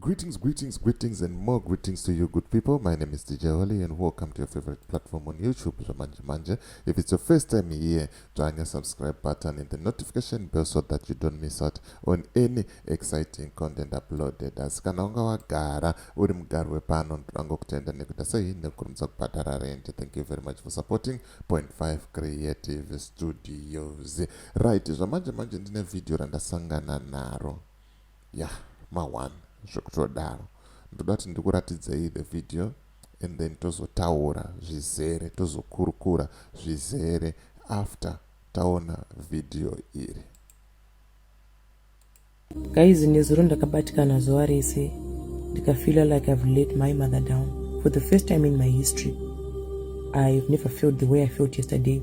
Greetings, greetings, greetings and more greetings to you good people. My name is DJ Holly and welcome to your favorite platform on YouTube, Zamanje Manje. If it's your first time here, join the subscribe button and the notification bell so that you don't miss out on any exciting content uploaded. Asi kana unga wagara uri mugari wepano ndodango kutenda nekuda sei nekurumidza kubhadhara rent. Thank you very much for supporting Point Five Creative Studios. Right, Zamanje Manje ndine video randasangana naro. Yah ma one zvekutodaro. Ndoda kuti ndikuratidzei the video and then tozotaura zvizere tozokurukura zvizere after taona video iri. Guys nezuro ndakabatikana zuva rese ndikafeela like I've let my mother down for the first time in my history. I've never felt the way I felt yesterday.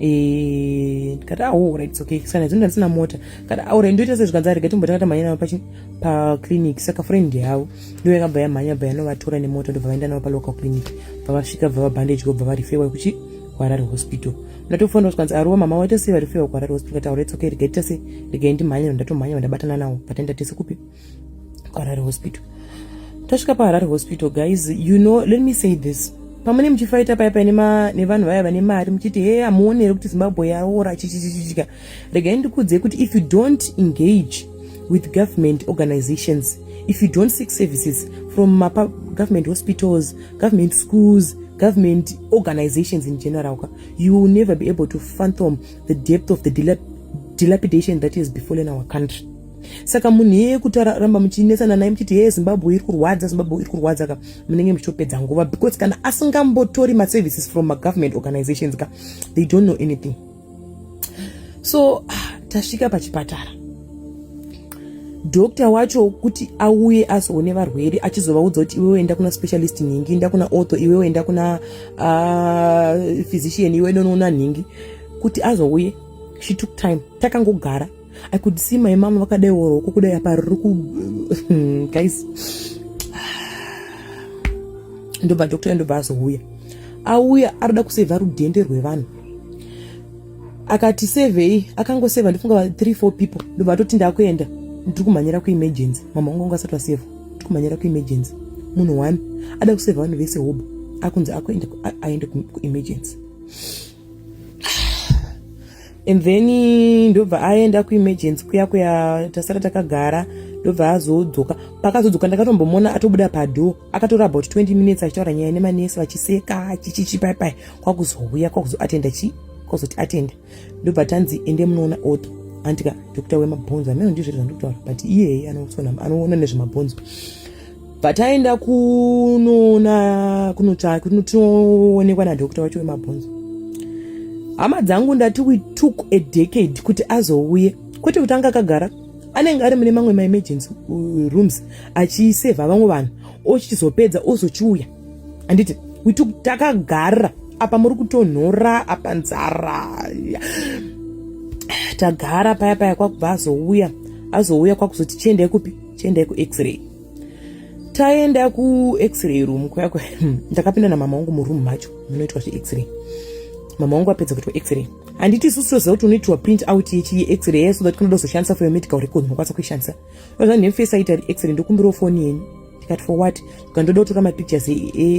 Eh, ndikati aura ah, its okay sana dzimwe ndandisina mota ndikati aura ah, ndoita sei zvikanzi arega timbotanga tamhanya navo paclinic saka friend yavo ndo yakabva yamhanya bva yanovatora nemoto ndobva vaenda navo palocal clinic bva vasvika bva vabhandage gobva varifewa kuchi kuharare hospital ndatofonda zvikanzi aruwa ah, mama waita sei varifewa kuharare hospital kati aura ah, its okay rega ita sei rega ndimhanya ndodatomhanya vandabatana navo vataenda tese kupi kuharare hospital tasvika paharare hospital guys you know let me say this pamune muchifaita paya paine nevanhu vaya vane mari muchiti hee hamuonere kuti zimbabwe yaora chichichichika regai ndikuudzei kuti if you don't engage with government organizations if you don't seek services from mapa government hospitals government schools government organizations in general you will never be able to phantom the depth of the dilapidation that is befallen our country saka munhu iyeye kuti aramba muchinetsana naye muchiti heye zimbabwe iri kurwadza zimbabwe iri kurwadza ka munenge muchitopedza nguva because kana asingambotori maservices from magovernment organizations ka they don't know anything so ah, tasvika pachipatara dokta wacho kuti auye azoone varwere achizovaudza kuti iwewe enda kuna specialist nhingi enda kuna otho iwewe enda kuna uh, physician iwe nonoona nhingi kuti azouye she took time takangogara i could see my mom vakadai oro uko kudai apa riri ku guys ndobva doctor ndobva azouya auya arikuda kusevha rudhende rwevanhu akati sevhei akangosevha ndifunga 3 4 people ndobva atoti ndakuenda ndiri kumhanyira kuemergency mama wangu anga asati vasevha ndiri kumhanyira kuemergency munhu one ada kusevha vanhu vese hobo akunzi akuenda aende kuemergency and then ndobva aenda kuemergency kuya kuya tasara takagara ndobva azodzoka paakazodzoka ndakatombomona atobuda padoor akatora about 20 minutes achitaura nyaya nemanesi vachiseka chichichi pai pai kwakuzouya kwakuzoatenda chi kwakuzoti atenda ndobva tanzi ende munoona otho andika doctor wemabhonzo ameno ndizvo zvandikutaura but iyeye anoona nezvemabhonzo pataenda kunoona kunotsvaka kunotionekwa nadokta wacho wemabhonzo hama dzangu ndati we took a decade kuti azouye kwete kuti anga akagara anenge ari mune mamwe maemergency uh, rooms achisevha vamwe vanhu ochizopedza ozochiuya handiti we took takagara apa muri kutonhora apa nzara tagara paya paya kwakubva azouya azouya kwakuzoti chiendai kupi tiendai kuxray taenda kuxray room kuya kuya hmm, ndakapinda namama wangu muroom macho munoitwa zvexray mama wangu apedza kuitwa xray handiti isusu toziva kuti unoitirwa print out yexray yeso that kunoda kuzoshandisa for your medical record unokwanisa kuishandisa ozva nemfesi aita xray ndokumbirawo foni yenyu tikati for what ka ndoda kutora mapictures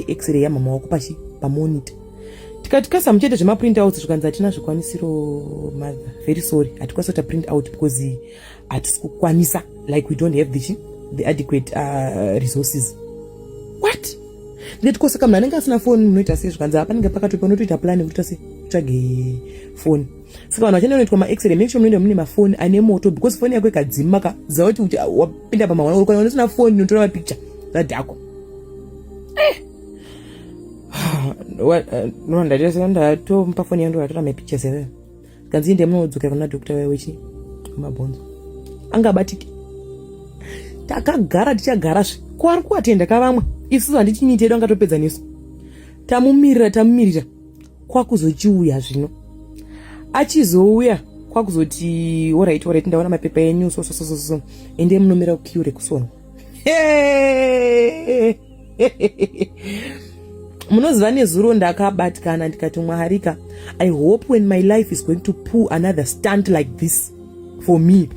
exray yamama wako pachi pamonita tikati kasa muchete zvemaprint out zvikanzi hatina zvikwanisiro mother very sorry hatikwanisa kuita print out because hatisi kukwanisa like we don't have the, the adequate uh, resources what ndeti ko saka munhu anenge asina foni munoita sei zvikanzi apanenge pakatopa unotoita plani kutoita sei tsvage foni saka vanhu vachenda unoitwa maexray make sure munoenda mune mafoni ane moto because foni yako ikadzima ka zava kuti kuti wapinda pamahwana urikwana unosina foni unotora mapicture zadhako eh. eh, nondatatomupa foni yangu ndatora mapictures eveyo Kanzi ndiye munodzokera kuna doctor waye wechi mabhonzo. Angabatike. Takagara tichagara zve. Ko ari kuatenda ka vamwe. Isu handiti miti yedu angatopedza nesu. Tamumirira tamumirira kwakuzochiuya zvino. Achizouya kwakuzoti orit orit ndaona mapepa enyu so so so so so ende munomira kukiure kusona munoziva nezuro ndakabatikana ndikati mwaharika i hope when my life is going to pull another stunt like this for me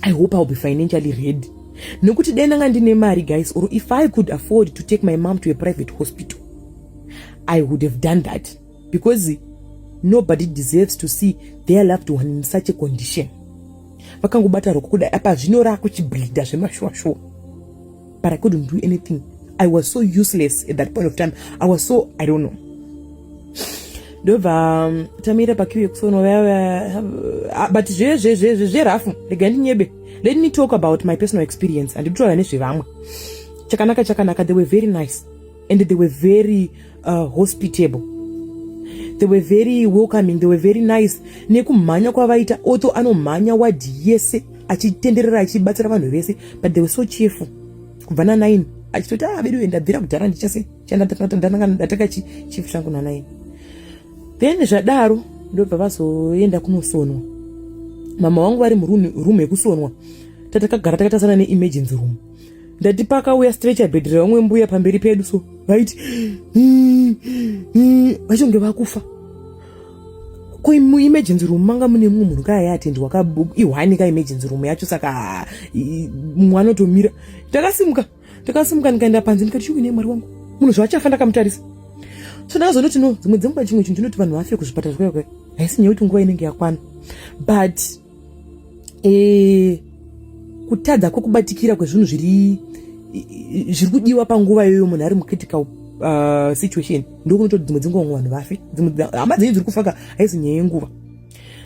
i hope iwill be financially ready nekuti dai ndanga ndine mari guys or if i could afford to take my mom to a private hospital i would have done that because nobody deserves to see their loved one in such a condition vakangobata roko kudai apa zvino raakuchibhidha zvemashuwashuwa but I couldn't do anything. I was so useless at that point of time. I was so, I don't know. ndobva um, tamira pakiu yekusono uh, but zverafu rega ndinyebe let me talk about my personal experience handikutaura nezvevamwe chakanaka chakanaka they were very nice and they were very uh, hospitable they were very welcoming they were very nice nekumhanya kwavaita oto anomhanya wadhi yese achitenderera achibatsira vanhu vese but they were so cheerful kubva nanaini achitoti ah vedu ndabvira kudhara ndichase chandatanga chief changu nanaini then zvadaro ndobva vazoenda kunosonwa mama wangu vari muroom yekusonwa tatakagara takatasana neemergency room ndati pakauya stretcher bed revamwe mbuya pamberi pedu so vaiti hmm, hmm, vachonge vakufa ko muemergency room manga mune mumwe munhu kaya yaatendi wakaihwani ka emergency room yacho saka mumwe anotomira takasimuka takasimuka ndikaenda panze ndikati chikuine mwari wangu munhu zvaachafa ndakamutarisa so ndakazonoti no dzimwe dzenguva chimwe chinhu chinoti vanhu vafe kuzvipatara zvakaya haisi nyaya kuti nguva inenge yakwana but e, kutadza kwekubatikira kwezvinhu zviri zviri kudiwa panguva iyoyo munhu ari mucritical uh, situation ndokunoto dzimwe dzinguva mwe vanhu vafe hama dzenyu dziri kufaka haizi nyaya yenguva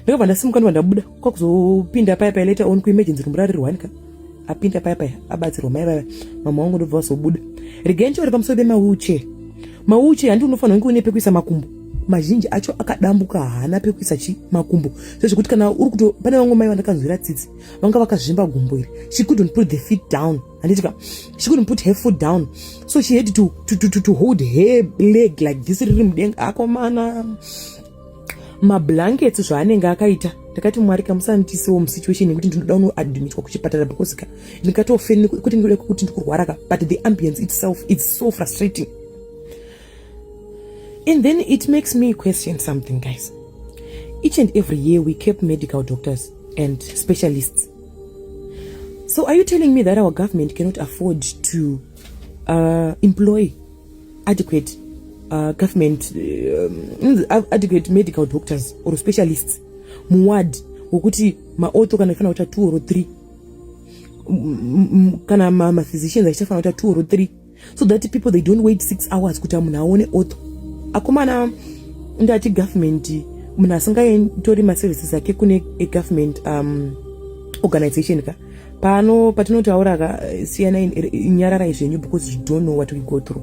ndakabva ndasimuka ndobva ndabuda kwakuzo paya paya later on kuemergency room rari rwanika apinda paya paya abatsirwa mai vaya mama wangu ndobva vazobuda rigencho uri pamusoro pemawheelchair mawheelchair handi unofanira kunge une pekuisa makumbo mazhinji acho akadambuka haana pekuisa chi makumbo sezvekuti kana uri kuto pane vamwe mai vandakanzwira tsitsi vanga vakazvimba gumbo iri she couldn't put the feet down handitika she couldn't put her foot down so she had to, to, to, to, to hold her leg like this riri mudenga akomana mablankets zvaanenge akaita ndakati mwari ka musandiisewo musituation yekuti ndinoda unoadmitwa kuchipatara because ka ndikatofen kuti ndikuda kuti ndikurwara ka but the ambience itself its so frustrating and then it makes me question something guys each and every year we kept medical doctors and specialists so are you telling me that our government cannot afford to uh, employ adequate uh, government um, adequate medical doctors or specialists muward wekuti maoto kana ifanira kuita two or three kana maphysicians achichafanira kuita two or three so that people they don't wait six hours kuti munhu aone oto akomana ndati government munhu asingatori maservices ake kune egovernment um, organization ka pano patinotaura ka eh, siyanai eh, nyararai zvenyu because you don't know what we go through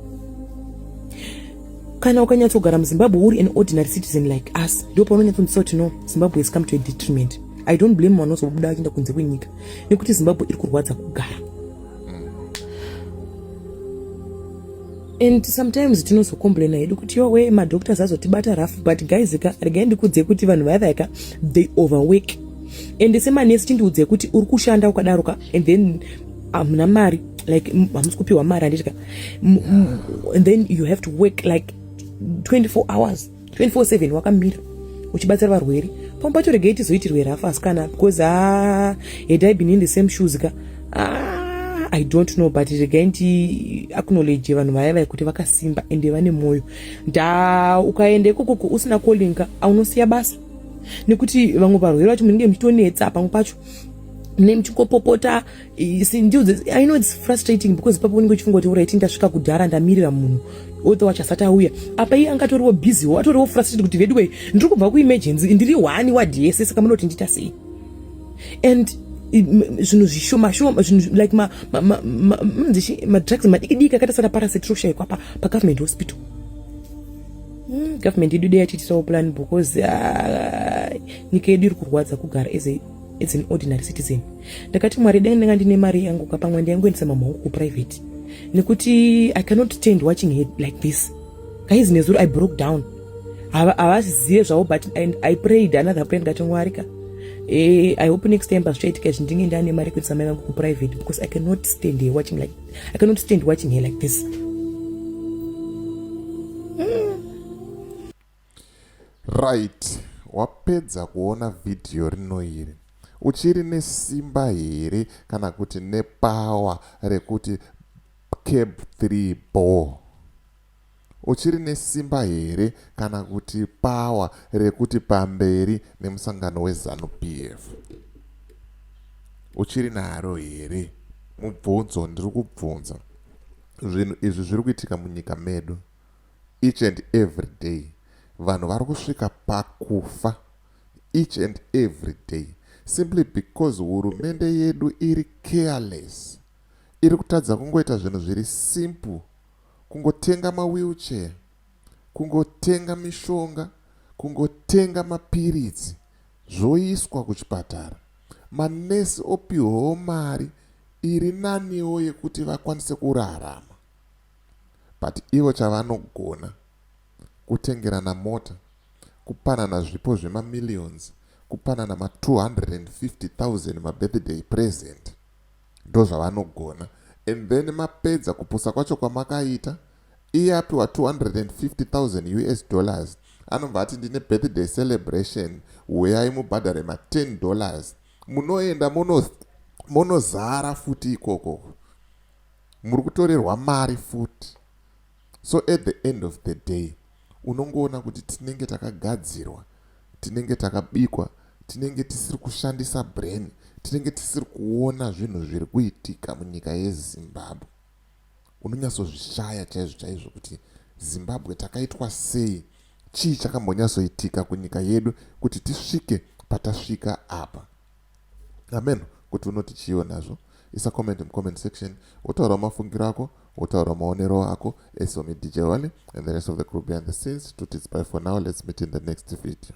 kana ukanyatsogara muzimbabwe uri an ordinary citizen like us ndo paunonyatsonzisa kuti no zimbabwe has come to a detriment i don't blame mwana uzobuda achienda kunze kwenyika nekuti zimbabwe iri kurwadza kugara and sometimes tinozocomplaina hedu kuti yowe madoctors azotibata rough but guys ka regai ndikudze kuti vanhu vaya vaya ka they overwork and semanesi chindiudze kuti uri kushanda ukadaro ka and then hamuna um, mari like hamusi kupiwa mari handiti ka and then you have to work like 24 hours 24/7 wakamira uchibatsira varwere pamwe pacho regai tizoitirwe rafu asikana because a ah, had i been in the same shoes ka ah, i don't know but regai ndi acknowledge vanhu vaya vaya kuti vakasimba ende vane mwoyo nda ukaenda ikokoko usina calling ka aunosiya basa nekuti vamwe varwere vacho munenge muchitonetsa pamwe pacho mune muchingopopota i know its frustrating because ipapo unenge uchifunga kuti uraiti ndasvika kudhara ndamirira munhu othe wacho asati auya apa iye anga atoriwo busywo atoriwo frustrated kuti veduwei ndiri kubva kuemergency ndiri hwani wadhi yese saka munoti ndiita sei and zvinhu zvishomashoma zvinhu like madrugs madikidiki akaita sana parasite roshaikwa pagovernment hospital hmm, government yedu dei yachitisawo plan because ah, nyika yedu iri kurwadza kugara as a as an ordinary citizen ndakati mwari dai ndanga ndine mari yangu ka pamwe ndaingoendesa mama wangu kuprivate nekuti i cannot stand watching her like this guys nezuro i broke down havazive zvavo but i prayed another prayer ndikati mwari ka eh, i hope next time pazvichaitika izvi ndinge ndane mari kuendesa mai vangu kuprivate because i cannot stand her watching like i cannot stand watching her like this Right wapedza kuona video rino iri uchiri nesimba here kana kuti nepower rekuti cab 3 bo uchiri nesimba here kana kuti power rekuti pamberi nemusangano wezanu pf uchiri naro here mubvunzo ndiri kubvunza zvinhu izvi zviri kuitika munyika medu Each and every day vanhu vari kusvika pakufa each and every day simply because hurumende yedu iri careless iri kutadza kungoita zvinhu zviri simple kungotenga mawheelchair kungotenga mishonga kungotenga mapiritsi zvoiswa kuchipatara manesi opihwawo mari iri naniwo yekuti vakwanise kurarama but ivo chavanogona kutengerana mota, kupanana zvipo zvema millions, kupanana ma 250000 ma birthday present ndozvavanogona and then mapedza kupusa kwacho kwamakaita iye apiwa 250000 us dollars anobva ati ndine birthday celebration huyai mubhadhare ma 10 dollars munoenda monozara futi ikoko muri kutorerwa mari futi so at the end of the day unongoona kuti tinenge takagadzirwa tinenge takabikwa tinenge tisiri kushandisa brain tinenge tisiri kuona zvinhu zviri kuitika munyika yezimbabwe unonyatsozvishaya chaizvo chaizvo kuti zimbabwe takaitwa sei chii chakambonyatsoitika kunyika yedu kuti tisvike patasvika apa Hameno kuti unoti chiiwo nazvo. Isa comment mucomment section wotaura mafungiro ako wotaura maonero ako as for me DJ Wally and the rest of the crew behind the scenes tuti it's bye for now let's meet in the next video.